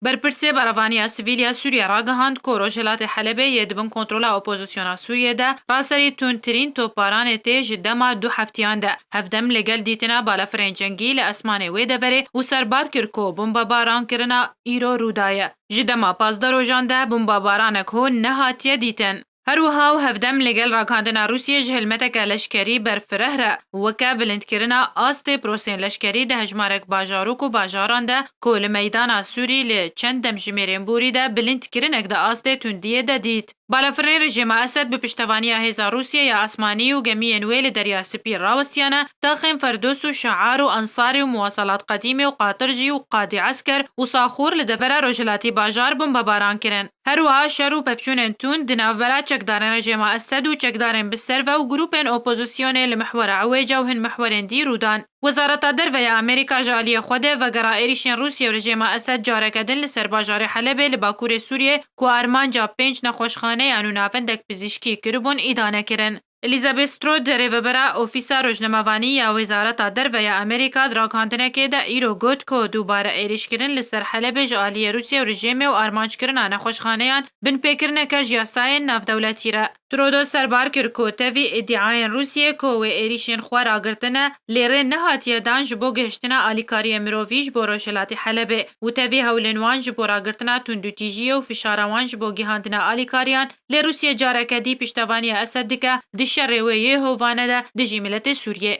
Berpirsê Berevaniya Sivîl ya Sûriyê ragihand ku rojhilatê Helebê yê di bin kontrola opozisyona Sûriyê de ra serî tundtirîn topbaranê tê ji dema du heftiyan de. Hevdem li gel dîtina balafirên cengî li esmanê wê deverê û serbar kir ku bombabarankirina îro rûdaye. Ji dema pazdeh rojan de bombabaranek hûn nehatiye dîtin. Her wiha û hevdem li gel ragihandina Rûsyê ji hilmeteke leşkerî berfireh re weke bilindkirina astê prosên leşkerî di hejmarek bajarok û bajaran de ku li meydana Sûrî li çend demjimêrên borî de bilindkirinek di astê tundiyê de dît. Balafirnê rejîma Esed bi piştevaniya hêza Rûsyê ya asmanî û gemiyên wê li Derya Spî rawestiyane taxên Ferdos û Şiar û Ensari û Muwasalat Qedîmê û Qatir jî û Qadî Esker û Saxûr li devera rojhilatî bajar bombebaran kirin. Her wiha şer û pevçûnên tund di navbera çekdarên rejêma Esed û çekdarên bi ser ve û grûpên opozîsyonê li mihwera Ewêca û hin mihwerên dî rû dan. Wezareta Derve ya Amerîka ji aliyê xwe de vegera êrîşên Rûsye û rejêma Esed careke din li ser bajarê Helebê li bakurê Sûriyê ku armanca pênc nexweşxaneyan û navendek pizîşkî kiribûn îdane kirin. Elizabeth Stroud, rêvebera Ofîsa Rojnamevanî ya Wezareta Derve ya Amerîka di ragihandinekê de îro got ku dubare êrîşkirin li ser Helebê ji aliyê Rûsye û rejîmê û armancekirina nexweşxaneyan binpêkirineke ji yasayên navdewletî re. Trudeau serbar kir ku tevî îdiayên Rûsyê ku wê êrîşên xwe ragirtine lê rê nehatiye dan ji bo gihiştina alîkariyên mirovî ji bo rojhilatê Helebê û tevî hewlên wan ji bo ragirtina tundûtîjiyê û fişara wan ji bo gihandina alîkariyan Lê Rûsye careke dî piştevaniya Esed dike di şerê wê yê hovane de dijî miletê Sûriyê.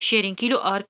Şêrîn Kîlo Ark.